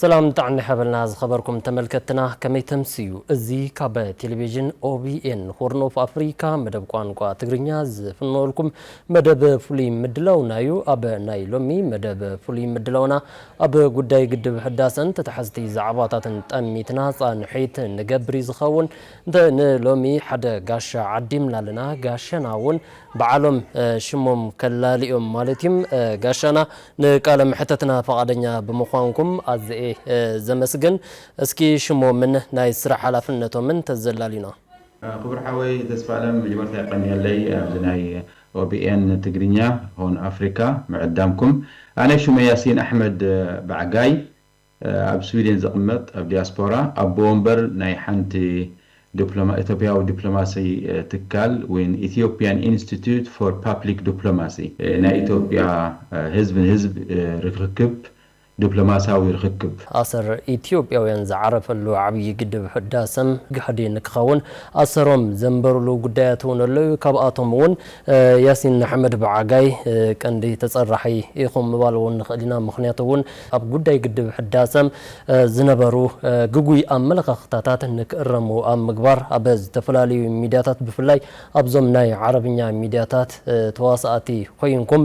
ሰላም ጥዕና ይሓበልና ዝኸበርኩም ተመልከትና ከመይ ተምስዩ እዚ ካብ ቴሌቪዥን ኦቢኤን ሆርን ኦፍ ኣፍሪካ መደብ ቋንቋ ትግርኛ ዝፍነወልኩም መደብ ፍሉይ ምድላውና እዩ ኣብ ናይ ሎሚ መደብ ፍሉይ ምድላውና ኣብ ጉዳይ ግድብ ሕዳሰን ተታሓዝቲ ዛዕባታትን ጠሚትና ፃንሒት ንገብር እዩ ዝኸውን እንተ ን ሎሚ ሓደ ጋሻ ዓዲምና ኣለና ጋሻና ውን ብዓሎም ሽሞም ከላልዮም ማለት ዩ ጋሻና ንቃለ መሕተትና ፍቓደኛ ብምዃንኩም ኣዘየ ዘመስግን እስኪ ሽሞምን ናይ ስራሕ ሓላፍነቶምን ተዘላልዩና። ክቡር ሓወይ ተስፋኣለም መጀመርታ የቀንየለይ ኣብዚ ናይ OBN ትግርኛ ሆርን ኣፍሪካ ምዕዳምኩም ኣነ ሹመይ ያሲን ኣሕመድ ባዕጋይ ኣብ ስዊዴን ዝቕመጥ ኣብ ዲያስፖራ ኣቦ ወንበር ናይ ሓንቲ ኢትዮጵያዊ ዲፕሎማሲ ትካል ወይን Ethiopian Institute for Public Diplomacy፣ ናይ ኢትዮጵያ ህዝብ ንህዝብ ርክክብ ዲፕሎማሲያዊ ርክክብ፣ ኣሰር ኢትዮጵያውያን ዝዓረፈሉ ዓብዪ ግድብ ህዳሰም ጋህዲ ንክኸውን ኣሰሮም ዘንበሩሉ ጉዳያት እውን ኣለዉ። ካብኣቶም እውን ያሲን ኣሕመድ ብዓጋይ ቀንዲ ተፀራሒ ኢኹም ምባል እውን ንኽእል ኢና። ምኽንያቱ እውን ኣብ ጉዳይ ግድብ ሕዳሰ ዝነበሩ ግጉይ ኣመለኻኽታታት ንክእረሙ ኣብ ምግባር ኣብ ዝተፈላለዩ ሚድያታት ብፍላይ ኣብዞም ናይ ዓረብኛ ሚድያታት ተዋሳኣቲ ኮይንኩም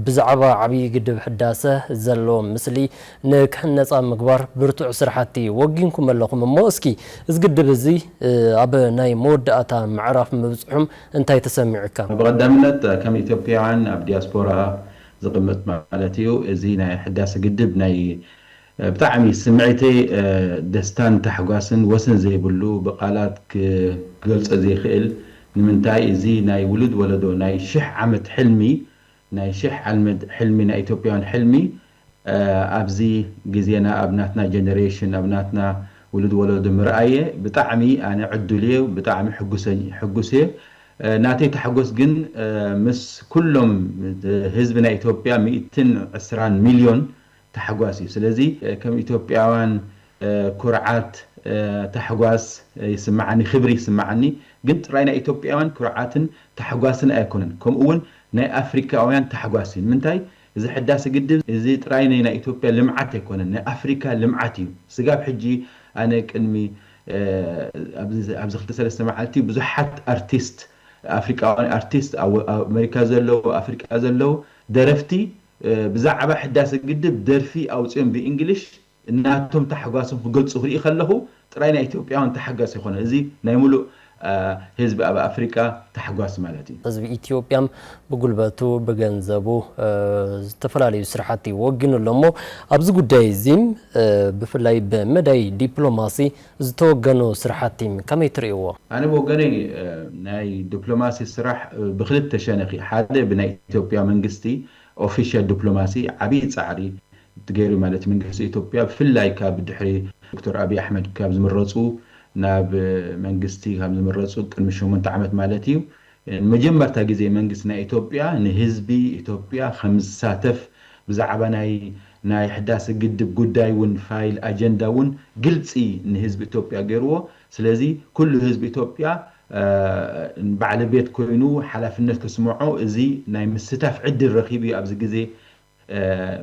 ብዛዕባ ዓብዪ ግድብ ሕዳሰ ዘሎ ምስሊ ንክሕነፅ ኣብ ምግባር ብርቱዕ ስራሕቲ ወጊንኩም ኣለኹም እሞ እስኪ እዚ ግድብ እዚ ኣብ ናይ መወዳእታ ምዕራፍ ምብፅሑም እንታይ ተሰሚዑካ? ብቐዳምነት ከም ኢትዮጵያውያን ኣብ ዲያስፖራ ዝቅመጥ ማለት እዩ እዚ ናይ ሕዳሰ ግድብ ናይ ብጣዕሚ ስምዒተ ደስታን ታሕጓስን ወሰን ዘይብሉ ብቃላት ክገልፆ ዘይክእል ንምንታይ እዚ ናይ ውሉድ ወለዶ ናይ ሽሕ ዓመት ሕልሚ ናይ ሽሕ ዓልመት ሕልሚ ናይ ኢትዮጵያውያን ሕልሚ ኣብዚ ግዜና ኣብ ናትና ጀነሬሽን ኣብ ናትና ውሉድ ወለዶ ምርኣየ ብጣዕሚ ኣነ ዕዱል እየ ብጣዕሚ ሕጉስ እየ ናተይ ታሕጎስ ግን ምስ ኩሎም ህዝቢ ናይ ኢትዮጵያ ሚእትን ዕስራን ሚልዮን ታሕጓስ እዩ ስለዚ ከም ኢትዮጵያውያን ኩርዓት ታሕጓስ ይስምዓኒ ክብሪ ይስምዓኒ ግን ጥራይ ናይ ኢትዮጵያውያን ኩርዓትን ታሕጓስን ኣይኮነን ከምኡ ውን ናይ ኣፍሪካውያን ታሕጓስ እዩ ንምንታይ እዚ ሕዳሰ ግድብ እዚ ጥራይ ናይ ናይ ኢትዮጵያ ልምዓት ኣይኮነን ናይ ኣፍሪካ ልምዓት እዩ ስጋብ ሕጂ ኣነ ቅድሚ ኣብዚ ክልተ ሰለስተ መዓልቲ ብዙሓት ኣርቲስት ኣፍሪቃውያን ኣርቲስት ኣብ ኣመሪካ ዘለዉ ኣፍሪቃ ዘለዉ ደረፍቲ ብዛዕባ ሕዳሰ ግድብ ደርፊ ኣውጺኦም ብእንግሊሽ ናቶም ታሕጓሶም ክገልጹ ክርኢ ከለኹ ጥራይ ናይ ኢትዮጵያውያን ታሕጋስ ኣይኮነን እዚ ናይ ምሉእ ህዝቢ ኣብ ኣፍሪቃ ታሕጓስ ማለት እዩ። ህዝቢ ኢትዮጵያ ብጉልበቱ ብገንዘቡ ዝተፈላለዩ ስራሕቲ ወጊኑ ኣሎ እሞ ኣብዚ ጉዳይ እዚ ብፍላይ ብመዳይ ዲፕሎማሲ ዝተወገኑ ስራሕቲ ከመይ ትርእይዎ? ኣነ ብወገነይ ናይ ዲፕሎማሲ ስራሕ ብክልተ ሸነኽ እዩ ሓደ ብናይ ኢትዮጵያ መንግስቲ ኦፊሻል ዲፕሎማሲ ዓብይ ጻዕሪ ገይሩ ማለት መንግስቲ ኢትዮጵያ ብፍላይ ካብ ድሕሪ ዶክተር ኣብይ ኣሕመድ ካብ ዝምረፁ ናብ መንግስቲ ካብ ዝምረፁ ቅድሚ ሸሞንተ ዓመት ማለት እዩ ንመጀመርታ ግዜ መንግስቲ ናይ ኢትዮጵያ ንህዝቢ ኢትዮጵያ ከም ዝሳተፍ ብዛዕባ ናይ ናይ ሕዳሰ ግድብ ጉዳይ እውን ፋይል ኣጀንዳ እውን ግልፂ ንህዝቢ ኢትዮጵያ ገይርዎ ስለዚ ኩሉ ህዝቢ ኢትዮጵያ ባዕለቤት ኮይኑ ሓላፍነት ክስመዖ እዚ ናይ ምስታፍ ዕድል ረኪቡ እዩ ኣብዚ ግዜ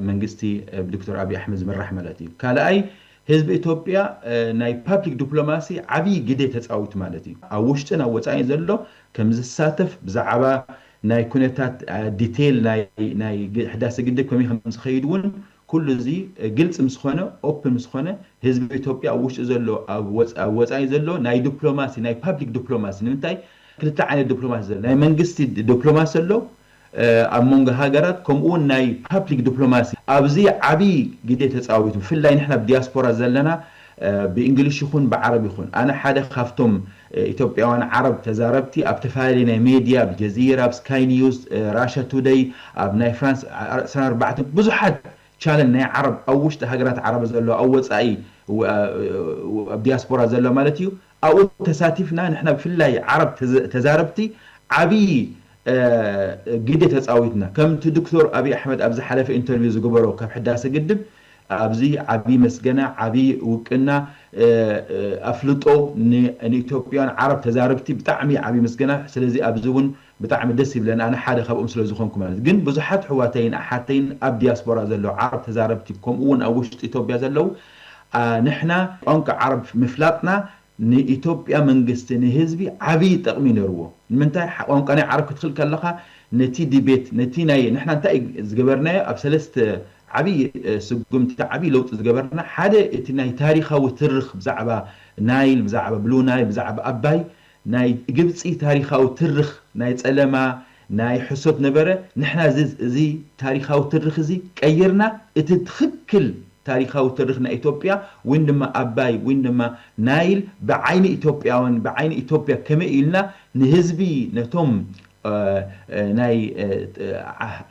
መንግስቲ ብዶክተር ኣብይ ኣሕመድ ዝምራሕ ማለት እዩ። ካልኣይ ህዝቢ ኢትዮጵያ ናይ ፓብሊክ ዲፕሎማሲ ዓብይ ግደ ተፃዊቱ ማለት እዩ። ኣብ ውሽጥን ኣብ ወፃኢን ዘሎ ከምዝሳተፍ ብዛዕባ ናይ ኩነታት ዲቴይል ናይ ህዳሰ ግድብ ከመይ ከምዝኸይድ እውን ኩሉ እዚ ግልፂ ምስኾነ ኦፕን ምስኾነ ህዝቢ ኢትዮጵያ ኣብ ውሽጢ ዘሎ ኣብ ወፃኢ ዘሎ ናይ ዲፕሎማሲ ናይ ፓብሊክ ዲፕሎማሲ ንምንታይ ክልተ ዓይነት ዲፕሎማሲ ዘሎ ናይ መንግስቲ ዲፕሎማሲ ኣሎ ኣብ መንጎ ሃገራት ከምኡውን ናይ ፓፕሊክ ድፕሎማሲ ኣብዚ ዓቢ ግዴ ተጻዊቱ ብፍላይ ንሕና ኣብ ዲያስፖራ ዘለና ብእንግሊሽ ይኹን ብዓረብ ይኹን ኣነ ሓደ ካብቶም ኢትዮጵያውያን ዓረብ ተዛረብቲ ኣብ ተፈላለየ ናይ ሜድያ ኣብ ጀዚራ ኣብ ስካይ ኒውስ ራሻ ቱደይ ኣብ ናይ ፍራንስ ዕስራን ኣርባዕተን ብዙሓት ቻነል ናይ ዓረብ ኣብ ውሽጢ ሃገራት ዓረብ ዘለዋ ኣብ ወጻኢ ኣብ ዲያስፖራ ዘለዋ ማለት እዩ ኣብኡ ተሳቲፍና ንሕና ብፍላይ ዓረብ ተዛረብቲ ዓብይ ግደ ተፃዊትና። ከምቲ ድክቶር ኣብይ ኣሕመድ ኣብ ዝሓለፈ ኢንተርቪው ዝገበሮ ካብ ሕዳሰ ግድብ ኣብዚ ዓብይ መስገና ዓብይ ውቅና ኣፍልጦ ንኢትዮጵያውያን ዓረብ ተዛረብቲ ብጣዕሚ ዓብይ ምስገና ስለዚ ኣብዚ እውን ብጣዕሚ ደስ ይብለኒ ኣነ ሓደ ካብኦም ስለ ዝኮንኩ ማለት ግን ብዙሓት ኣሕዋተይን ኣሓተይን ኣብ ዲያስፖራ ዘለዉ ዓረብ ተዛረብቲ ከምኡ ውን ኣብ ውሽጢ ኢትዮጵያ ዘለዉ ንሕና ቋንቋ ዓረብ ምፍላጥና ንኢትዮጵያ መንግስቲ ንህዝቢ ዓብይ ጠቅሚ እዩ ነርዎ ንምንታይ ቋንቋ ናይ ዓረብ ክትክል ከለካ ነቲ ዲቤት ነቲ ናይ ንሕና እንታይ እዩ ዝገበርናዮ ኣብ ሰለስተ ዓብይ ስጉምቲ ዓብይ ለውጢ ዝገበርና ሓደ እቲ ናይ ታሪካዊ ትርኽ ብዛዕባ ናይል ብዛዕባ ብሉ ናይል ብዛዕባ ኣባይ ናይ ግብጺ ታሪኻዊ ትርኽ ናይ ጸለማ ናይ ሕሶት ነበረ ንሕና እዚ እዚ ታሪኻዊ ትርኽ እዚ ቀይርና እቲ ትኽክል ታሪኻዊ ትርኽ ናይ ኢትዮጵያ ዊን ድማ ኣባይ ዊን ድማ ናይል ብዓይኒ ኢትዮጵያውያን ብዓይኒ ኢትዮጵያ ከመይ ኢልና ንህዝቢ ነቶም ናይ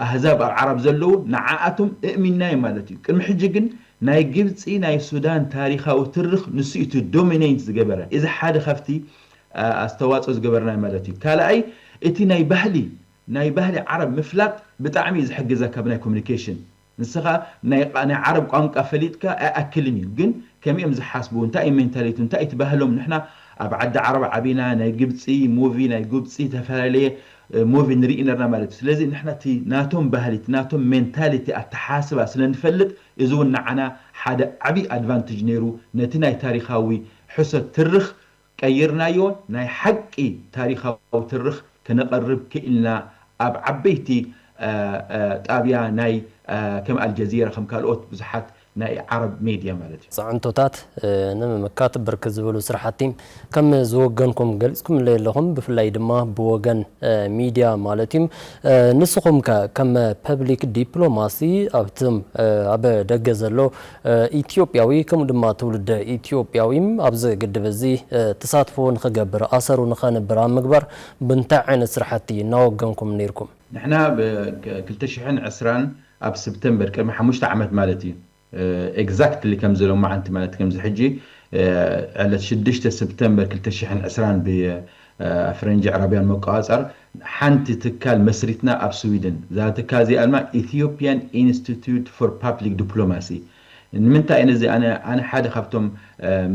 ኣህዛብ ኣብ ዓራብ ዘለዉ ንዓኣቶም እእሚንናዮም ማለት እዩ ቅድሚ ሕጂ ግን ናይ ግብጺ ናይ ሱዳን ታሪኻዊ ትርኽ ንሱ እዩ እቲ ዶሚነይንት ዝገበረ እዚ ሓደ ካብቲ ኣስተዋጾ ዝገበርናዮ ማለት እዩ ካልኣይ እቲ ናይ ባህሊ ናይ ባህሊ ዓረብ ምፍላጥ ብጣዕሚ እዩ ዝሕግዘካ ብናይ ኮሚኒኬሽን ንስኻ ናይ ናይ ዓረብ ቋንቃ ፈሊጥካ ኣይኣክልን እዩ ግን ከመይ እዮም ዝሓስቡ እንታይ እዩ ሜንታሊቱ እንታይ እቲ ባህሎም ንሕና ኣብ ዓዲ ዓረብ ዓቢና ናይ ግብጺ ሙቪ ናይ ጉብጺ ተፈላለየ ሞቪ ንሪኢ ነርና ማለት እዩ ስለዚ ንሕና እቲ ናቶም ባህሊ እቲ ናቶም ሜንታሊቲ ኣተሓሳስባ ስለ ንፈልጥ እዚ ውን ንዓና ሓደ ዓብይ ኣድቫንትጅ ነይሩ ነቲ ናይ ታሪኻዊ ሕሶት ትርኽ ቀይርናዮ ናይ ሓቂ ታሪኻዊ ትርኽ ክነቐርብ ክኢልና ኣብ ዓበይቲ ጣብያ ናይ ከም ኣልጀዚራ ከም ካልኦት ብዙሓት ናይ ዓረብ ሜድያ ማለት እዩ። ፅዕንቶታት ንምምካት ብርክት ዝበሉ ስራሕቲ ከም ዝወገንኩም ገሊፅኩምለይ ኣለኹም ብፍላይ ድማ ብወገን ሚድያ ማለት እዩ። ንስኹም ከ ከም ፐብሊክ ዲፕሎማሲ ኣብቶም ኣብ ደገ ዘሎ ኢትዮጵያዊ ከምኡ ድማ ትውልደ ኢትዮጵያዊ ኣብዚ ግድብ እዚ ተሳትፎ ንኽገብር ኣሰሩ ንኸንብር ኣብ ምግባር ብእንታይ ዓይነት ስራሕቲ እናወገንኩም ነይርኩም? ንሕና ብ ክልተ ሽሕን ዕስራን ኣብ ስፕተምበር ቅድሚ ሓሙሽተ ዓመት ማለት እዩ ኤግዛክትሊ ከምዚ ሎማዓንቲ ማለት ከምዚ ሕጂ ዕለት ሽዱሽተ ስፕተምበር ክልተ ሽሕን ዕስራን ብፈረንጂ ኣዕራብያን መቆፃፀር ሓንቲ ትካል መስሪትና ኣብ ስዊድን እዛ ትካል እዚኣ ድማ ኢትዮጵያን ኢንስቲትዩት ፎር ፓፕሊክ ዲፕሎማሲ ንምንታይ እነ እዚ ኣነ ኣነ ሓደ ካብቶም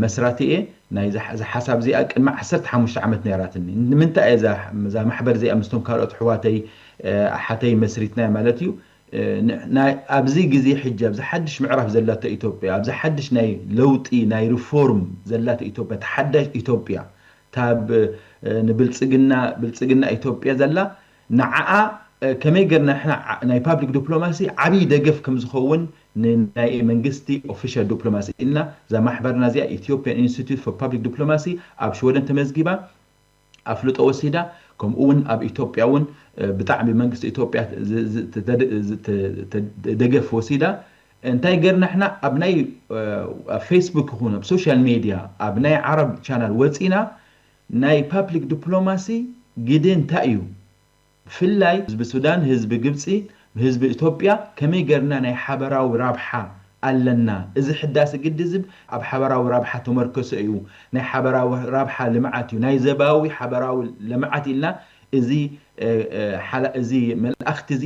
መስራቲ እየ ናይ እዛ ሓሳብ እዚኣ ቅድሚ ዓሰርተ ሓሙሽተ ዓመት ነይራትኒ ንምንታይ እየ እዛ እዛ ማሕበር እዚኣ ምስቶም ካልኦት ኣሕዋተይ ኣሓተይ መስሪትናያ ማለት እዩ ናይ ኣብዚ ግዜ ሕጂ ኣብዚ ሓድሽ ምዕራፍ ዘላቶ ኢትዮጵያ ኣብዚ ሓድሽ ናይ ለውጢ ናይ ሪፎርም ዘላቶ ኢትዮጵያ እታ ሓዳሽ ኢትዮጵያ እታ ንብልጽግና ብልጽግና ኢትዮጵያ ዘላ ንዓኣ ከመይ ገርና ንሕና ናይ ፓብሊክ ዱፕሎማሲ ዓብይ ደገፍ ከም ዝኸውን ንናይ መንግስቲ ኦፊሻል ዱፕሎማሲ ኢልና እዛ ማሕበርና እዚኣ ኢትዮጵያን ኢንስቲትዩት ፎር ፓብሊክ ዱፕሎማሲ ኣብ ሽወደን ተመዝጊባ ኣፍልጦ ወሲዳ ከምኡ እውን ኣብ ኢትዮጵያ እውን ብጣዕሚ ብመንግስቲ ኢትዮጵያ ደገፍ ወሲዳ እንታይ ገርና ንሕና ኣብ ናይ ኣብ ፌስቡክ ይኹን ኣብ ሶሻል ሜድያ ኣብ ናይ ዓረብ ቻናል ወፂና ናይ ፓፕሊክ ድፕሎማሲ ግደ እንታይ እዩ ብፍላይ ህዝቢ ሱዳን ህዝቢ ግብጺ ህዝቢ እቶጵያ ከመይ ገርና ናይ ሓበራዊ ራብሓ ኣለና እዚ ሕዳሲ ግድዝብ ኣብ ሓበራዊ ራብሓ ተመርከሰ እዩ ናይ ሓበራዊ ራብሓ ልምዓት እዩ ናይ ዘባዊ ሓበራዊ ለምዓት ኢልና እዚ እዚ መልኣክቲ እዚ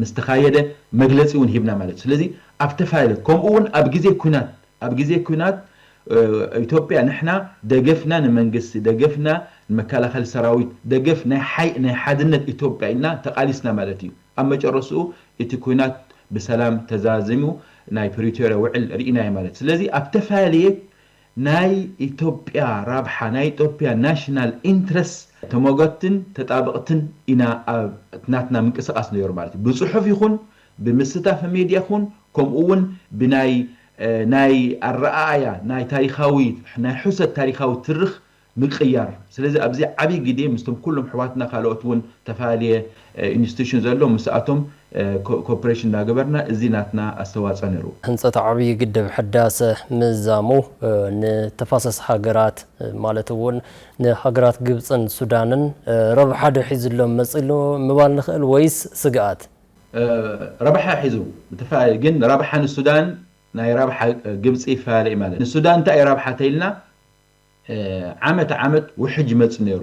ምስ ተኻየደ መግለጺ እውን ሂብና ማለት እዩ። ስለዚ ኣብ ዝተፈላለየ ከምኡ እውን ኣብ ግዜ ኲናት ኣብ ግዜ ኲናት ኢትዮጵያ ንሕና ደገፍና ንመንግስቲ ደገፍና ንመከላኸሊ ሰራዊት ደገፍ ናይ ሓይ ናይ ሓድነት ኢትዮጵያ ኢልና ተቓሊስና ማለት እዩ። ኣብ መጨረስኡ እቲ ኲናት ብሰላም ተዛዚሙ ናይ ፕሪቶርያ ውዕል ርኢናዮ ማለት እዩ። ስለዚ ኣብ ተፈላለየ ናይ ኢትዮጵያ ራብሓ፣ ናይ ኢትዮጵያ National Interest ተሞገትቲን ተጣበቕቲን ኢና ኣብ እቲ ናትና ምንቅስቓስ ነይሩ ማለት እዩ። ብፅሑፍ ይኹን ብምስታፍ ሜድያ ይኹን ከምኡ እውን ብናይ ናይ ኣረኣእያ ናይ ታሪኻዊ ናይ ሕሶት ታሪኻዊ ትርኽ ምቅያር ስለዚ ኣብዚ ዓቢ ግዴ ምስቶም ኩሎም ኣሕዋትና ካልኦት ውን ተፋልየ ኢንስቲቱሽን ዘሎ ምስኣቶም ኮፕሬሽን እንዳገበርና እዚ ናትና ኣስተዋጾ ነሩ። ህንጸት ዓብይ ግድብ ሕዳሰ ምዛሙ ንተፋሰስ ሃገራት ማለት እውን ንሃገራት ግብፅን ሱዳንን ረብሓ ዶ ሒዙሎም መፂኡ ምባል ንኽእል ወይስ ስግኣት? ረብሓ ሒዙ ብተፈላለየ ግን ረብሓ ንሱዳን ናይ ረብሓ ግብፂ ይፈላለ እዩ ማለት ንሱዳን እንታይ እዩ ረብሓ ተይልና፣ ዓመት ዓመት ውሕጅ ይመጽእ ነይሩ።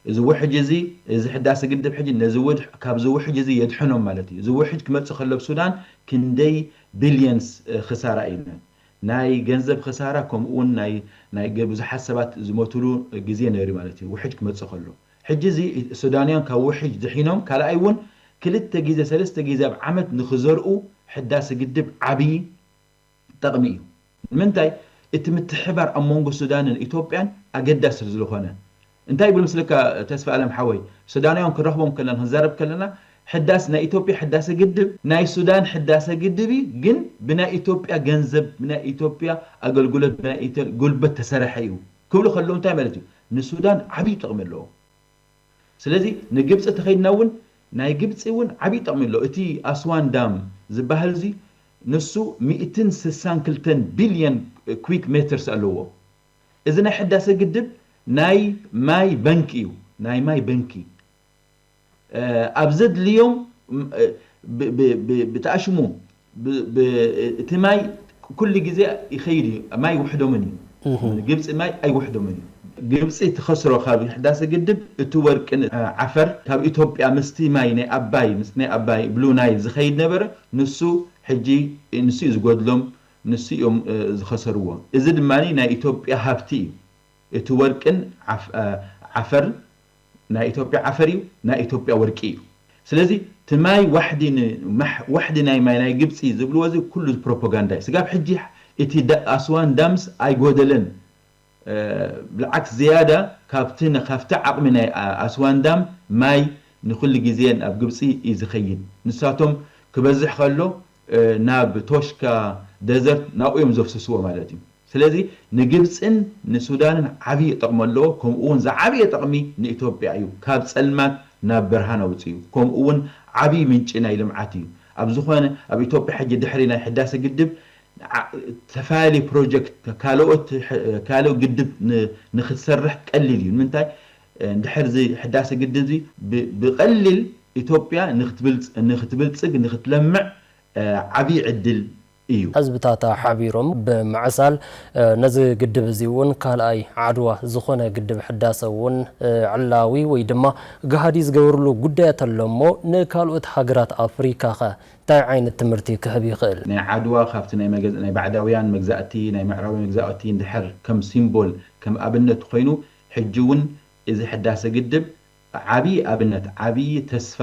እዚ ውሕጅ እዚ እዚ ሕዳሰ ግድብ ሕጂ ነዚ ውድሕ ካብዚ ውሕጅ እዚ የድሕኖም ማለት እዩ። እዚ ውሕጅ ክመጽእ ከሎ ኣብ ሱዳን ክንደይ ቢልየንስ ክሳራ እዩ ነይሩ። ናይ ገንዘብ ክሳራ ከምኡ ውን ናይ ናይ ብዙሓት ሰባት ዝሞትሉ ግዜ ነይሩ ማለት እዩ ውሕጅ ክመጽእ ከሎ። ሕጂ እዚ ሱዳንውያን ካብ ውሕጅ ድሒኖም ካልኣይ ውን ክልተ ግዜ ሰለስተ ግዜ ኣብ ዓመት ንኽዘርኡ ሕዳሰ ግድብ ዓቢ ጠቕሚ እዩ። ንምንታይ እቲ ምትሕብባር ኣብ መንጎ ሱዳንን ኢትዮጵያን ኣገዳሲ ስልዝኾነ። እንታይ ይብል ምስልካ ተስፋኣለም ሓወይ ሱዳናውያን ክንረኽቦም ከለና ክንዛረብ ከለና ሕዳስ ናይ ኢትዮጵያ ሕዳሰ ግድብ ናይ ሱዳን ሕዳሰ ግድብ እዩ ግን ብናይ ኢትዮጵያ ገንዘብ ብናይ ኢትዮጵያ ኣገልግሎት ብናይ ኢትዮ ጉልበት ተሰረሐ እዩ ክብሉ ከለዉ እንታይ ማለት እዩ ንሱዳን ዓብይ ጥቕሚ ኣለዎ። ስለዚ ንግብጺ ተኸይድና እውን ናይ ግብጺ እውን ዓብይ ጠቕሚ ኣሎ እቲ ኣስዋን ዳም ዝባሀል እዙይ ንሱ ሚእትን ስሳን ክልተን ቢልየን ኩዊክ ሜትርስ ኣለዎ እዚ ናይ ሕዳሰ ግድብ ናይ ማይ በንኪ እዩ ናይ ማይ በንኪ ኣብ ዘድልዮም ብተኣሽሙ ብ እቲ ማይ ኩሉ ግዜ ይከይድ እዩ ማይ ውሕዶምን እዩ ግብጺ ማይ ኣይውሕዶምን እዩ። ግብጺ ትከስሮ ካብ ሕዳሰ ግድብ እቲ ወርቂ ን ዓፈር ካብ ኢትዮጵያ ምስቲ ማይ ናይ ኣባይ ምስቲ ናይ ኣባይ ብሉ ናይል ዝከይድ ነበረ ንሱ ሕጂ ንሱ እዩ ዝጎድሎም ንሱ እዮም ዝከሰርዎ እዚ ድማ ናይ ኢትዮጵያ ሃብቲ እዩ እቲ ወርቂን ዓፈር ናይ ኢትዮጵያ ዓፈር እዩ ናይ ኢትዮጵያ ወርቂ እዩ ስለዚ እቲ ማይ ዋሕዲ ን ዋሕዲ ናይ ማይ ናይ ግብጺ ዝብልዎ እዚ ኩሉ ፕሮፖጋንዳ እዩ ስጋብ ሕጂ እቲ ኣስዋን ዳምስ ኣይጎደለን ብልዓክስ ዝያዳ ካብቲ ካብቲ ዓቅሚ ናይ ኣስዋን ዳም ማይ ንኩሉ ግዜ ኣብ ግብጺ እዩ ዝከይድ ንሳቶም ክበዝሕ ከሎ ናብ ቶሽካ፣ ደዘርት፣ ናብኡ እዮም ዘፍስስዎ ማለት እዩ። ስለዚ ንግብጽን ንሱዳንን ዓብዪ ጠቕሚ ኣለዎ። ከምኡውን ዝዓበየ ጠቕሚ ንኢትዮጵያ እዩ። ካብ ጸልማት ናብ ብርሃን ኣውጺኡ። ከምኡውን ዓብዪ ምንጪ ናይ ልምዓት እዩ። ኣብ ዝኾነ ኣብ ኢትዮጵያ ሕጂ ድሕሪ ናይ ሕዳሰ ግድብ ዝተፈላለዩ ፕሮጀክት ካልኦት ካልእ ግድብ ንክትሰርሕ ቀሊል እዩ። ንምንታይ እንድሕር እዚ ሕዳሰ ግድብዚ ብቐሊል ኢትዮጵያ ንክትብልፅግ ንክትለምዕ ዓብዪ ዕድል እዩ። ህዝብታታ ሓቢሮም ብምዕሳል ነዚ ግድብ እዚ እውን ካልኣይ ዓድዋ ዝኾነ ግድብ ሕዳሰ እውን ዕላዊ ወይ ድማ ገሃዲ ዝገበርሉ ጉዳያት ኣሎ እሞ ንካልኦት ሃገራት ኣፍሪካ ከ እንታይ ዓይነት ትምህርቲ ክህብ ይኽእል? ናይ ዓድዋ ካብቲ ናይ ባዕዳውያን መግዛእቲ ናይ ምዕራባውያን መግዛእቲ እንድሕር ከም ሲምቦል ከም ኣብነት ኮይኑ ሕጂ ውን እዚ ሕዳሰ ግድብ ዓብይ ኣብነት ዓብይ ተስፋ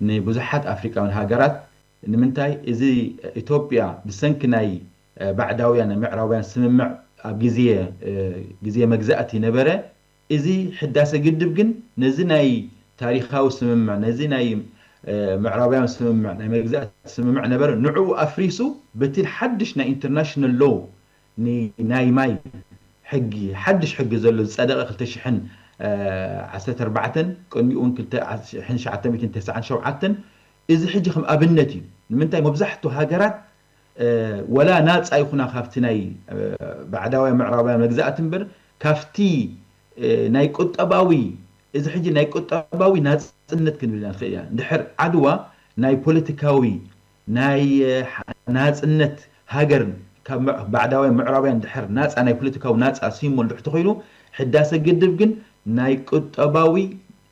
ንብዙሓት ኣፍሪቃውያን ሃገራት ንምንታይ እዚ ኢትዮጵያ ብሰንኪ ናይ ባዕዳውያን ናይ ምዕራባውያን ስምምዕ ኣብ ግዜ ግዜ መግዛእቲ ነበረ እዚ ሕዳሰ ግድብ ግን ነዚ ናይ ታሪኻዊ ስምምዕ ነዚ ናይ ምዕራባውያን ስምምዕ ናይ መግዛእቲ ስምምዕ ነበረ ንዑኡ ኣፍሪሱ በቲ ሓድሽ ናይ ኢንተርናሽናል ሎው ንናይ ማይ ሕጊ ሓድሽ ሕጊ ዘሎ ዝጸደቐ ክልተ ሽሕን ዓሰርተ ኣርባዕተን ቅድሚኡ ውን ክልተ ሽሕን ትሽዓተ ሚእትን ተስዓን ሸውዓተን እዚ ሕጂ ከም ኣብነት እዩ ንምንታይ መብዛሕቱ ሃገራት ወላ ናጻ ይኹና ካብቲ ናይ ባዕዳውያን ምዕራባውያን መግዛእቲ እምበር ካብቲ ናይ ቁጠባዊ እዚ ሕጂ ናይ ቁጠባዊ ናጽነት ክንብል ኢና ንኽእል ኢና ድሕር ዓድዋ ናይ ፖለቲካዊ ናይ ናጽነት ሃገር ካብ ባዕዳውያን ምዕራባውያን ድሕር ናጻ ናይ ፖለቲካዊ ናጻ ሲሞል ድሕር ተኮይኑ ሕዳሰ ግድብ ግን ናይ ቁጠባዊ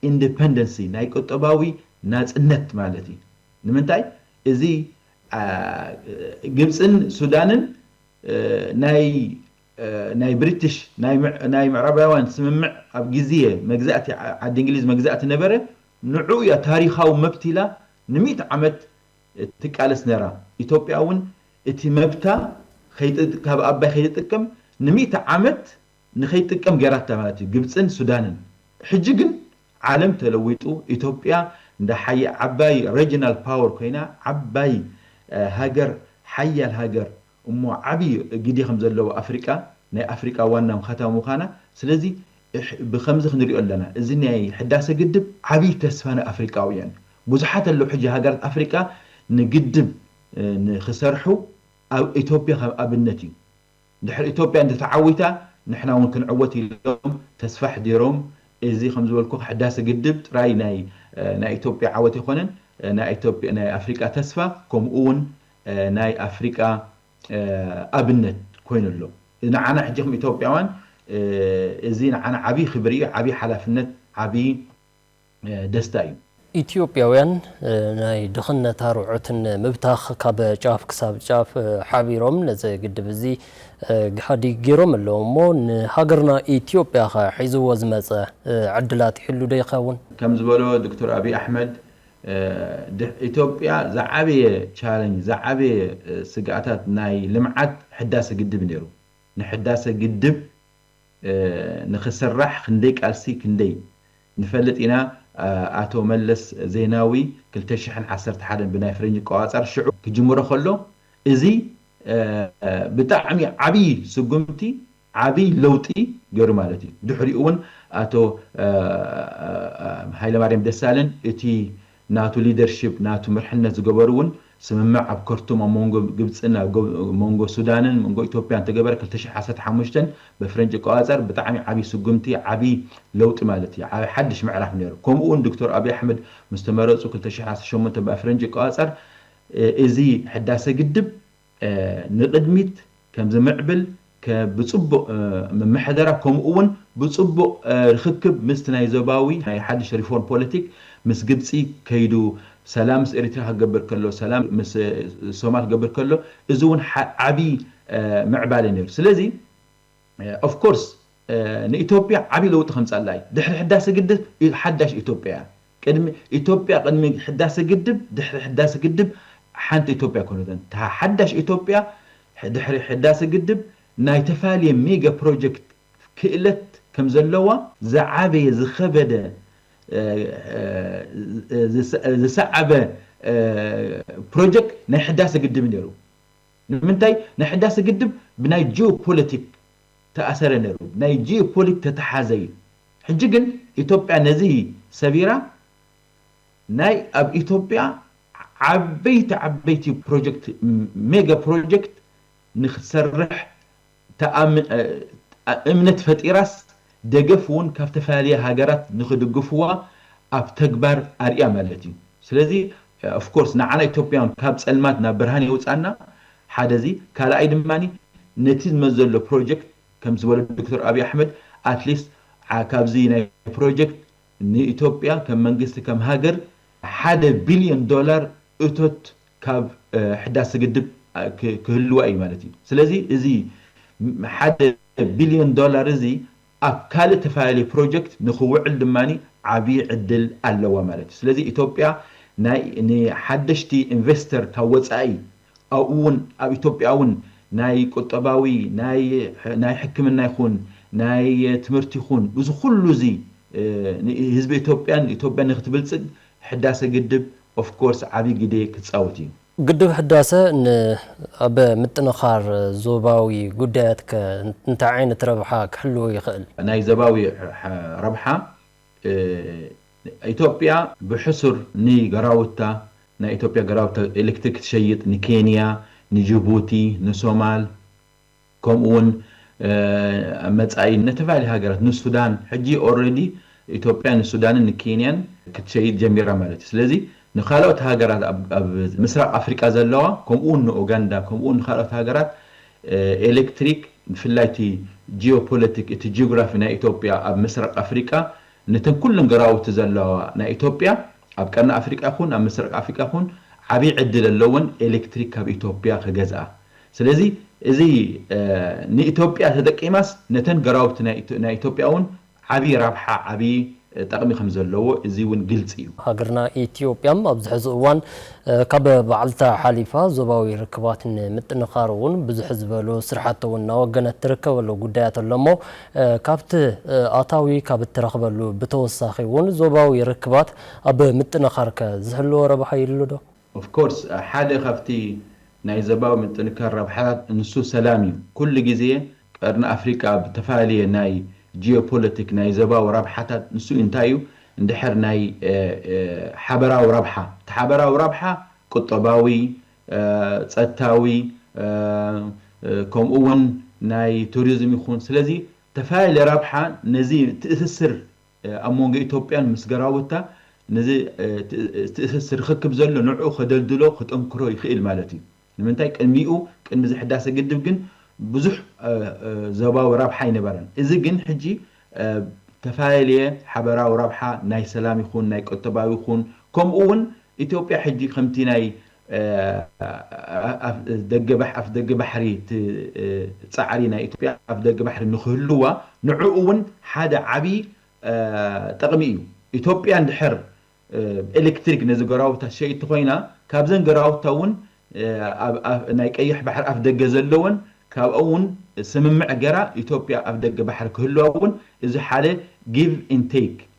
ኢንደፐንደንሲ ናይ ቁጠባዊ ናጽነት ማለት እዩ ንምንታይ እዚ ግብጽን ሱዳንን ናይ ናይ ብሪትሽ ናይ ምዕራባውያን ስምምዕ ኣብ ግዝየ መግዛእቲ ዓዲ እንግሊዝ መግዛእቲ ነበረ ንዑ እያ ታሪካዊ መብት ኢላ ንሚእቲ ዓመት ትቃለስ ነራ ኢትዮጵያ ውን እቲ መብታ ካብ ኣባይ ከይትጥቀም ንሚእቲ ዓመት ንከይትጥቀም ገይራታ ማለት እዩ ግብጽን ሱዳንን ሕጂ ግን ዓለም ተለዊጡ ኢትዮጵያ እንዳ ሓያል ዓባይ ረጅናል ፓወር ኮይና ዓባይ ሃገር ሓያል ሃገር እሞ ዓብይ ግዴ ከም ዘለዎ ኣፍሪቃ ናይ ኣፍሪቃ ዋና ኸተማ ምዃና ስለዚ ብኸምዚ ክንሪኦ ኣለና እዚ ናይ ሕዳሰ ግድብ ዓብይ ተስፋ ንኣፍሪቃውያን እዩ ብዙሓት ኣለው ሕጂ ሃገራት ኣፍሪቃ ንግድብ ንኽሰርሑ ኣብ እትዮጵያ ከም ኣብነት እዩ ድሕሪ እትዮጵያ እንተተዓዊታ ንሕና እውን ክንዕወት ኢሎም ተስፋ ኣሕዲሮም እዚ ከም ዝበልኩኻ ሕዳሰ ግድብ ጥራይ ናይ ናይ እትዮጵያ ዓወት ኣይኮነን ናይ ናይ ኣፍሪቃ ተስፋ ከምኡ እውን ናይ ኣፍሪቃ ኣብነት ኮይኑ ኣሎ። ንዓና ሕጂ ከም ኢትዮጵያውያን እዚ ንዓና ዓብይ ክብሪ እዩ፣ ዓብይ ሓላፍነት፣ ዓብይ ደስታ እዩ። ኢትዮጵያውያን ናይ ድኽነት ኣርዑት ንምብታኽ ካብ ጫፍ ክሳብ ጫፍ ሓቢሮም ነዚ ግድብ እዚ ግሃድይ ገይሮም ኣለዉ እሞ ንሃገርና ኢትዮጵያ ከ ሒዝዎ ዝመፀ ዕድላት ይህሉ ዶ ይኸውን? ከም ዝበሎ ዶክተር ኣብይ ኣሕመድ ኢትዮጵያ ዝዓበየ ቻለንጅ ዝዓበየ ስግኣታት ናይ ልምዓት ሕዳሰ ግድብ ነይሩ። ንሕዳሰ ግድብ ንክስራሕ ክንደይ ቃልሲ ክንደይ ንፈልጥ ኢና ኣቶ መለስ ዜናዊ ክልተ ሽሕን ዓሰርተ ሓደን ብናይ ፍሬንጅ ኣቆፃፀር ሽዑ ክጅምሮ ከሎ እዚ ብጣዕሚ ዓብዪ ስጉምቲ ዓብይ ለውጢ ገይሩ ማለት እዩ። ድሕሪኡ እውን ኣቶ ሃይለማርያም ደሳለኝ እቲ ናቱ ሊደርሺፕ ናቱ መርሕነት ዝገበሩ እውን ስምምዕ ኣብ ከርቱም ኣብ መንጎ ግብፅን ኣብ መንጎ ሱዳንን መንጎ ኢትዮጵያን ዝተገበረ ክልተ ሽሕ ዓሰርተ ሓሙሽተ በፍረንጂ ኣቆፃፀር ብጣዕሚ ዓብይ ስጉምቲ ዓብይ ለውጢ ማለት እዩ። ዓብይ ሓድሽ ምዕራፍ ነይሩ። ከምኡ እውን ዶክተር ኣብይ ኣሕመድ ምስ ተመረፁ ክልተ ሽሕ ዓሰርተ ሸሞንተ በፍረንጂ ኣቆፃፀር እዚ ሕዳሰ ግድብ ንቕድሚት ከም ዝምዕብል ከ ብጽቡቕ ምምሕደራ ከምኡ'ውን ብጽቡቕ ርኽክብ ምስቲ ናይ ዞባዊ ናይ ሓድሽ ሪፎርም ፖለቲክ ምስ ግብጺ ከይዱ ሰላም ምስ ኤሪትራ ክገብር ከሎ ሰላም ምስ ሶማል ክገብር ከሎ እዚ ውን ዓቢ ምዕባለ ነይሩ ስለዚ ኦፍ ኮርስ ንኢትዮጵያ ዓብይ ለውጢ ከምፀኣላ እዩ ድሕሪ ሕዳሰ ግድብ ሓዳሽ ኢትዮጵያ እያ ቅድሚ ኢትዮጵያ ቅድሚ ሕዳሰ ግድብ ድሕሪ ሕዳሰ ግድብ ሓንቲ ኢትዮጵያ ኣይኮነትን እታ ሓዳሽ ኢትዮጵያ ድሕሪ ሕዳሰ ግድብ ናይ ተፋልየ ሚገ ፕሮጀክት ክእለት ከምዘለዋ ዝዓበየ ዝኸበደ ዝሰዓበ ፕሮጀክት ናይ ሕዳሰ ግድብ እዩ ነይሩ። ንምንታይ ናይ ሕዳሰ ግድብ ብናይ ጂኦ ፖለቲክ ተኣሰረ ነሩ ብናይ ጂኦ ፖሊክ ተተሓዘ እዩ ሕጂ ግን ኢትዮጵያ ነዚ ሰቢራ ናይ ኣብ ኢትዮጵያ ዓበይቲ ዓበይቲ ፕሮጀክት ሜገ ፕሮጀክት ንክትሰርሕ እምነት ፈጢራስ ደገፍ ውን ካብ ተፈላለየ ሃገራት ንኽድግፍዋ ኣብ ተግባር ኣርእያ ማለት እዩ ስለዚ of course ንዓና ኢትዮጵያውን ካብ ፀልማት ናብ ብርሃን የውፅኣና ሓደ እዚ ካልኣይ ድማ ነቲ ዝመፅ ዘሎ ፕሮጀክት ከምቲ ዝበሎ ዶክተር ኣብይ ኣሕመድ at least ካብዚ ናይ ፕሮጀክት ንኢትዮጵያ ከም መንግስቲ ከም ሃገር ሓደ ቢልዮን ዶላር እቶት ካብ ሕዳሰ ግድብ ክህልዋ እዩ ማለት እዩ። ስለዚ እዚ ሓደ ቢልዮን ዶላር እዚ ኣብ ካልእ ተፈላለየ ፕሮጀክት ንክውዕል ድማ ዓብዪ ዕድል ኣለዋ ማለት እዩ። ስለዚ ኢትዮጵያ ንሓደሽቲ ኢንቨስተር ካብ ወፃኢ ኣብኡ እውን ኣብ ኢትዮጵያ እውን ናይ ቁጠባዊ ናይ ሕክምና ይኹን ናይ ትምህርቲ ይኹን እዚ ኩሉ እዚ ንህዝቢ ኢትዮጵያን ኢትዮጵያ ንክትብልፅግ ሕዳሰ ግድብ ኦፍ ኮርስ ዓቢ ግዴ ክጻወት እዩ። ግድብ ሕዳሰ ን ኣብ ምጥንኻር ዞባዊ ጉዳያት ከ እንታይ ዓይነት ረብሓ ክሕልው ይኽእል? ናይ ዘባዊ ረብሓ ኢትዮጵያ ብሕሱር ን ገራውታ ናይ ኢትዮጵያ ገራውታ ኤሌክትሪክ ትሸይጥ ን ኬንያ ን ጅቡቲ ን ሶማል። ከምኡ ውን ኣብ መጻኢ ነተፈላለየ ሃገራት ንሱዳን ሕጂ ኦረዲ ኢትዮጵያ ንሱዳንን ንኬንያን ክትሸይጥ ጀሚራ ማለት እዩ ስለዚ ንካልኦት ሃገራት ኣብ ምስራቅ ኣፍሪቃ ዘለዋ ከምኡ ውን ንኡጋንዳ ከምኡ ውን ንካልኦት ሃገራት ኤለክትሪክ ብፍላይ እቲ ጂኦፖለቲክ እቲ ጂኦግራፊ ናይ ኢትዮጵያ ኣብ ምስራቅ ኣፍሪቃ ነተን ኩለን ገራውቲ ዘለዋ ናይ ኢትዮጵያ ኣብ ቀርኒ ኣፍሪቃ ይኹን ኣብ ምስራቅ ኣፍሪቃ ይኹን ዓብይ ዕድል ኣለወን ኤለክትሪክ ካብ ኢትዮጵያ ክገዝኣ ስለዚ እዚ ንኢትዮጵያ ተጠቂማስ ነተን ገራውቲ ናይ ኢትዮጵያ እውን ዓብዪ ራብሓ ዓብዪ ጠቕሚ ከምዘለዎ እዚ እውን ግልፂ እዩ። ሃገርና ኢትዮጵያ ኣብዚ ሕዚ እዋን ካብ ባዕልታ ሓሊፋ ዞባዊ ርክባት ንምጥንኻር እውን ብዙሕ ዝበሉ ስርሓቲ እውን እናወገነት ትርከበሉ ጉዳያት ኣሎ እሞ ካብቲ ኣታዊ ካብ እትረኽበሉ ብተወሳኺ እውን ዞባዊ ርክባት ኣብ ምጥንኻር ከ ዝህልዎ ረብሓ ይህሉ ዶ? Of course ሓደ ካብቲ ናይ ዘባዊ ምጥንካር ረብሓታት ንሱ ሰላም እዩ። ኩሉ ግዜ ቀርኒ ኣፍሪቃ ብተፋላለየ ናይ ጂኦፖለቲክ ናይ ዘባዊ ረብሓታት ንሱ እንታይ እዩ እንድሕር ናይ ሓበራዊ ረብሓ እቲ ሓበራዊ ረብሓ ቁጠባዊ፣ ጸጥታዊ ከምኡውን ናይ ቱሪዝም ይኹን ስለዚ ተፋላለየ ረብሓ ነዚ ትእስስር ኣብ መንጎ ኢትዮጵያን ምስ ገራውታ ነዚ ዝትእሰስ ርኽክብ ዘሎ ንዕኡ ከደልድሎ ክጠንክሮ ይኽእል ማለት እዩ። ንምንታይ ቅድሚኡ ቅድሚ እዚ ሕዳሰ ግድብ ግን ብዙሕ ዞባዊ ረብሓ ኣይነበረን። እዚ ግን ሕጂ ተፋለልየ ሓበራዊ ረብሓ ናይ ሰላም ይኹን ናይ ቁጠባዊ ይኹን ከምኡ እውን ኢትዮጵያ ሕጂ ከምቲ ናይ ኣፍደገ ባሕሪ እቲ ጻዕሪ ናይ ኢትዮጵያ ኣፍደገ ባሕሪ ንክህልዋ ንዕኡ ውን ሓደ ዓቢ ጠቕሚ እዩ። ኢትዮጵያ እንድሕር ብኤሌክትሪክ ነዚ ገራውታ ሸይቲ ኮይና ካብዘን ገራውታ ውን ኣብ ናይ ቀይሕ ባሕሪ ኣፍደገ ዘለወን ካብኦ ውን ስምምዕ ገራ ኢትዮጵያ ኣፍደገ ባሕሪ ክህልዋ ውን እዚ ሓደ ጊቭ ኢን ቴክ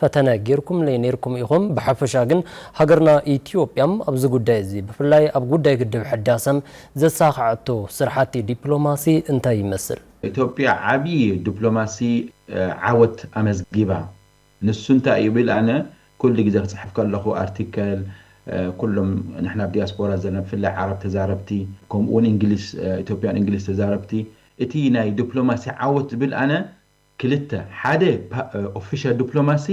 ፈተነ ጌርኩምለይ ኔርኩም ኢኹም ብሐፈሻ ግን ሀገርና ኢትዮጵያም ኣብዚ ጉዳይ እዚ ብፍላይ ኣብ ጉዳይ ግድብ ሕዳሰም ዘሳኸዐቶ ስርሓቲ ዲፕሎማሲ እንታይ ይመስል? ኢትዮጵያ ዓብዪ ዲፕሎማሲ ዓወት ኣመዝጊባ ንሱ እንታይ እዩ ብል ኣነ ኩሉ ግዜ ክፅሕፍ ከለኹ ኣርቲከል ኩሎም ንሕና ኣብ ዲያስፖራ ዘለና ብፍላይ ዓረብ ተዛረብቲ ከምኡ እውን እንግሊዝ ኢትዮጵያን እንግሊዝ ተዛረብቲ እቲ ናይ ዲፕሎማሲ ዓወት ዝብል ኣነ ክልተ፣ ሓደ ኦፊሻል ዱፕሎማሲ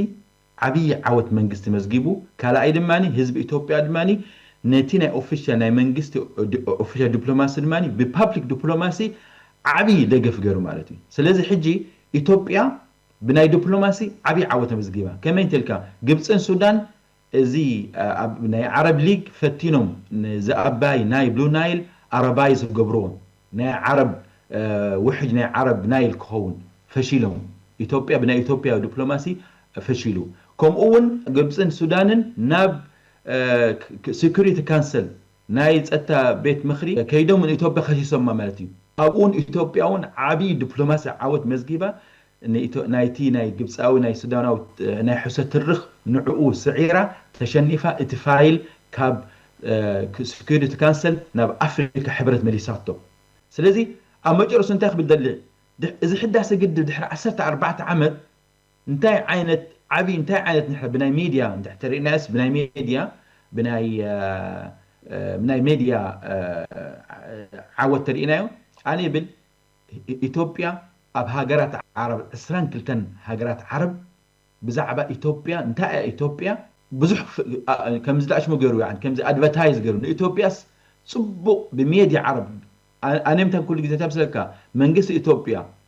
ዓብዪ ዓወት መንግስቲ መዝጊቡ፣ ካልኣይ ድማ ህዝቢ ኢትዮጵያ ድማ ነቲ ናይ ኦፊሻል ናይ መንግስቲ ኦፊሻል ዱፕሎማሲ ድማ ብፓብሊክ ዱፕሎማሲ ዓብዪ ደገፍ ገይሩ ማለት እዩ። ስለዚ ሕጂ ኢትዮጵያ ብናይ ዱፕሎማሲ ዓብዪ ዓወት ኣመዝጊባ። ከመይ እንተልካ ግብፅን ሱዳን እዚ ኣብ ናይ ዓረብ ሊግ ፈቲኖም ንዝኣባይ ናይ ብሉ ናይል ኣረባይ ዝገብርዎ ናይ ዓረብ ውሕጅ ናይ ዓረብ ናይል ክኸውን ፈሺሎም ኢትዮጵያ ብናይ ኢትዮጵያ ዱፕሎማሲ ፈሺሉ ከምኡ ውን ግብጽን ሱዳንን ናብ ስኩሪቲ ካንሰል ናይ ጸጥታ ቤት ምኽሪ ከይዶም ንኢትዮጵያ ከሲሶማ ማለት እዩ። ኣብኡውን ኢትዮጵያውን ዓቢ ዲፕሎማሲ ዓወት መዝጊባ ናይቲ ናይ ግብጻዊ ናይ ሱዳናዊ ናይ ሕሶት ትርኽ ንዕኡ ስዒራ ተሸኒፋ እቲ ፋይል ካብ ስኩሪቲ ካንሰል ናብ ኣፍሪካ ሕብረት መሊሳቶ። ስለዚ ኣብ መጨረሱ እንታይ ክብል ደሊ እዚ ሕዳሰ ግድብ ድሕሪ ዓሰርተ ኣርባዕተ ዓመት እንታይ ዓይነት ዓቢ እንታይ ዓይነት ንሕና ብናይ ሜድያ እንድሕር ተሪእናዮስ ብናይ ሜድያ ብናይ ብናይ ሜድያ ዓወት ተሪእናዮ ኣነ ይብል ኢትዮጵያ ኣብ ሃገራት ዓረብ ዕስራን ክልተን ሃገራት ዓረብ ብዛዕባ ኢትዮጵያ እንታይ እያ ኢትዮጵያ ብዙሕ ከምዚ ዳኣሽሙ ገሩ ያዓኒ ከምዚ ኣድቨታይዝ ገሩ ንኢትዮጵያስ ጽቡቅ ብሜድያ ዓረብ ኣነ ምንታይ ኩሉ ግዜ እንታይ ምስለካ መንግስቲ ኢትዮጵያ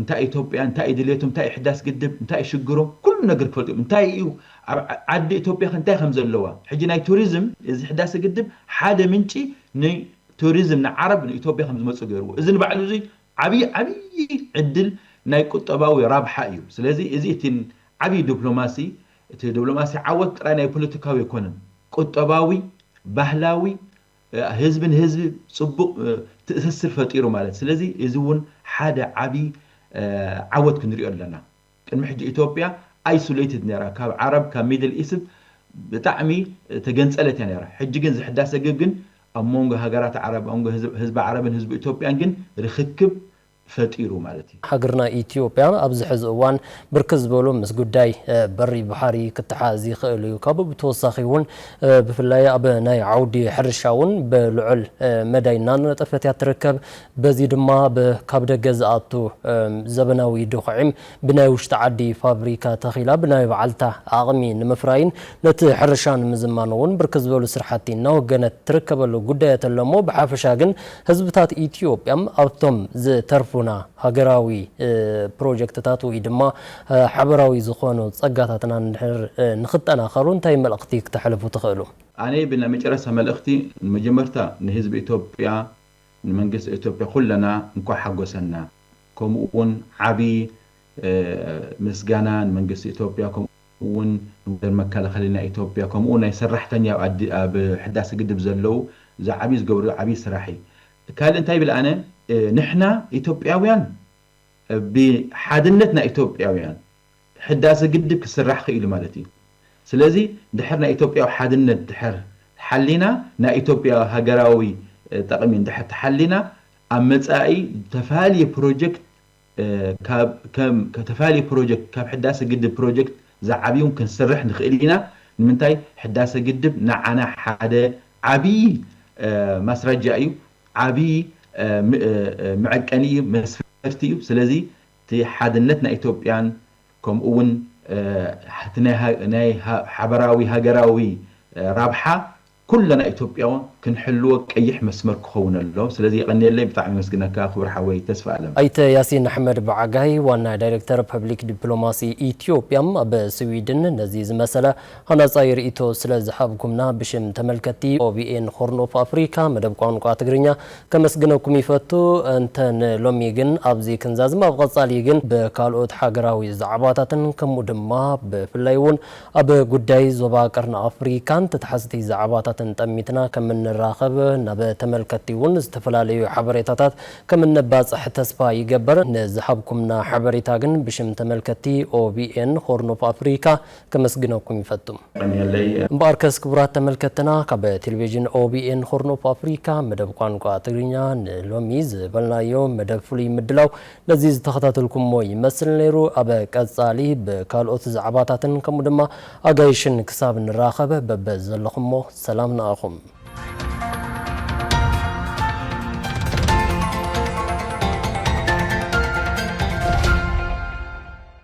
እንታይ እዩ ኢትዮጵያ እንታይ እዩ ድልየቶም እንታይ እዩ ሕዳስ ግድብ እንታይ እዩ ሽግሮም ኩሉ ነገር ክፈልጡ እዮም እንታይ እዩ ኣብ ዓዲ ኢትዮጵያ ከ እንታይ ከም ዘለዋ ሕጂ ናይ ቱሪዝም እዚ ሕዳሰ ግድብ ሓደ ምንጪ ን ቱሪዝም ንዓረብ ን ኢትዮጵያ ከም ዝመጹ ገይርዎ እዚ ንባዕሉ እዚ ዓብዪ ዓብዪ ዕድል ናይ ቁጠባዊ ራብሓ እዩ ስለዚ እዚ እቲ ዓብዪ ዱፕሎማሲ እቲ ዱፕሎማሲ ዓወት ጥራይ ናይ ፖለቲካዊ ኣይኮነን ቁጠባዊ ባህላዊ ህዝቢ ንህዝቢ ጽቡቕ ትእሰስር ፈጢሩ ማለት ስለዚ እዚ ውን ሓደ ዓቢ ዓወት ክንሪኦ ኣለና ቅድሚ ሕጂ ኢትዮጵያ ኣይሱለይትድ ነራ ካብ ዓረብ ካብ ሚድል ኢስብ ብጣዕሚ ተገንጸለት እያ ነራ ሕጂ ግን እዚ ሕዳሰ ግብ ግን ኣብ ሞንጎ ሃገራት ዓረብ ኣንጎ ህዝቢ ዓረብን ህዝቢ ኢትዮጵያን ግን ርኽክብ ፈጢሩ ማለት እዩ። ሃገርና ኢትዮጵያ ኣብዚ ሕዚ እዋን ብርክት ዝበሉ ምስ ጉዳይ በሪ ባሕሪ ክተሓዝ ይኽእል እዩ። ካብኡ ብተወሳኺ እውን ብፍላይ ኣብ ናይ ዓውዲ ሕርሻ እውን ብልዑል መዳይ እናነጠፈት እያ እትርከብ። በዚ ድማ ካብ ደገ ዝኣቱ ዘበናዊ ዶኽዒም ብናይ ውሽጢ ዓዲ ፋብሪካ ተኺላ ብናይ ባዕልታ ዓቕሚ ንምፍራይን ነቲ ሕርሻ ንምዝማን እውን ብርክት ዝበሉ ስራሕቲ እናወገነት ትርከበሉ ጉዳያት ኣሎሞ ብሓፈሻ ግን ህዝብታት ኢትዮጵያ ኣብቶም ዝተርፉና ሃገራዊ ፕሮጀክትታት ወይ ድማ ሓበራዊ ዝኾኑ ፀጋታትና እንድሕር ንኽጠናኸሩ እንታይ መልእኽቲ ክተሕልፉ ትኽእሉ? ኣነ ብናይ መጨረስታ መልእኽቲ ንመጀመርታ ንህዝቢ ኢትዮጵያ ንመንግስቲ ኢትዮጵያ ኩለና እንኳዕ ሓጎሰና ከምኡ ውን ዓቢ ምስጋና ንመንግስቲ ኢትዮጵያ ከምኡ ውን ንወደር መከላኸሊ ናይ ኢትዮጵያ ከምኡ ውን ናይ ሰራሕተኛ ኣብ ሕዳሰ ግድብ ዘለው እዚ ዓቢ ዝገብርዎ ዓቢ ስራሕ እዪ ካልእ እንታይ ይብል ኣነ ንሕና ኢትዮጵያውያን ብሓድነት ናይ ኢትዮጵያውያን ሕዳሰ ግድብ ክስራሕ ክኢሉ ማለት እዩ ስለዚ ድሕር ናይ ኢትዮጵያዊ ሓድነት ድሕር ሓሊና ናይ ኢትዮጵያ ሃገራዊ ጠቅሚ ድሕር ተሓሊና ኣብ መጻኢ ተፋልየ ፕሮጀክት ካብ ከም ተፋልየ ፕሮጀክት ካብ ሕዳሰ ግድብ ፕሮጀክት ዝዓብዩን ክንስርሕ ንክእል ኢና ንምንታይ ሕዳሰ ግድብ ንዓና ሓደ ዓብይ ማስራጃ እዩ ዓብይ መዐቀኒ እዩ መስፈርቲ እዩ ስለዚ እቲ ሓድነት ናይ ኢትዮጵያን ከምኡ እውን እቲ ናይ ሓበራዊ ሃገራዊ ራብሓ ኩለና ኢትዮጵያውን ክንሕልዎ ቀይሕ መስመር ክኸውን ኣለዎ። ስለዚ የቐንየለይ ብጣዕሚ የመስግነካ ክቡር ሓወይ ተስፋኣለም። ኣይተ ያሲን ኣሕመድ ብዓጋይ ዋና ዳይሬክተር ፐብሊክ ዲፕሎማሲ ኢትዮጵያ ኣብ ስዊድን ነዚ ዝመሰለ ሃናጻይ ርእይቶ ስለ ዝሃብኩምና ብሽም ተመልከትቲ OBN Horn of Africa መደብ ቋንቋ ትግርኛ ከመስግነኩም ይፈቱ። እንተ ን ሎሚ ግን ኣብዚ ክንዛዝም ኣብ ቐጻሊ ግን ብካልኦት ሃገራዊ ዛዕባታትን ከምኡ ድማ ብፍላይ እውን ኣብ ጉዳይ ዞባ ቀርኒ ኣፍሪካን ተታሕዝቲ ዛዕባታትን ጠሚትና ከም እንራኸብ ናብ ተመልከትቲ እውን ዝተፈላለዩ ሓበሬታታት ከም እነባጽሕ ተስፋ ይገበር። ንዝሃብኩምና ሓበሬታ ግን ብሽም ተመልከትቲ OBN Horn of Africa ከመስግነኩም ይፈቱ። እምበኣርከስ ክቡራት ተመልከትትና ካብ ቴሌቪዥን OBN Horn of Africa መደብ ቋንቋ ትግርኛ ንሎሚ ዝበልናዮ መደብ ፍሉይ ምድላው ነዚ ዝተኸታተልኩሞ ይመስል ነይሩ። ኣብ ቀጻሊ ብካልኦት ዛዕባታትን ከምኡ ድማ ኣጋይሽን ክሳብ ንራኸብ በበ ዘለኹሞ ሰላም ንኣኹም።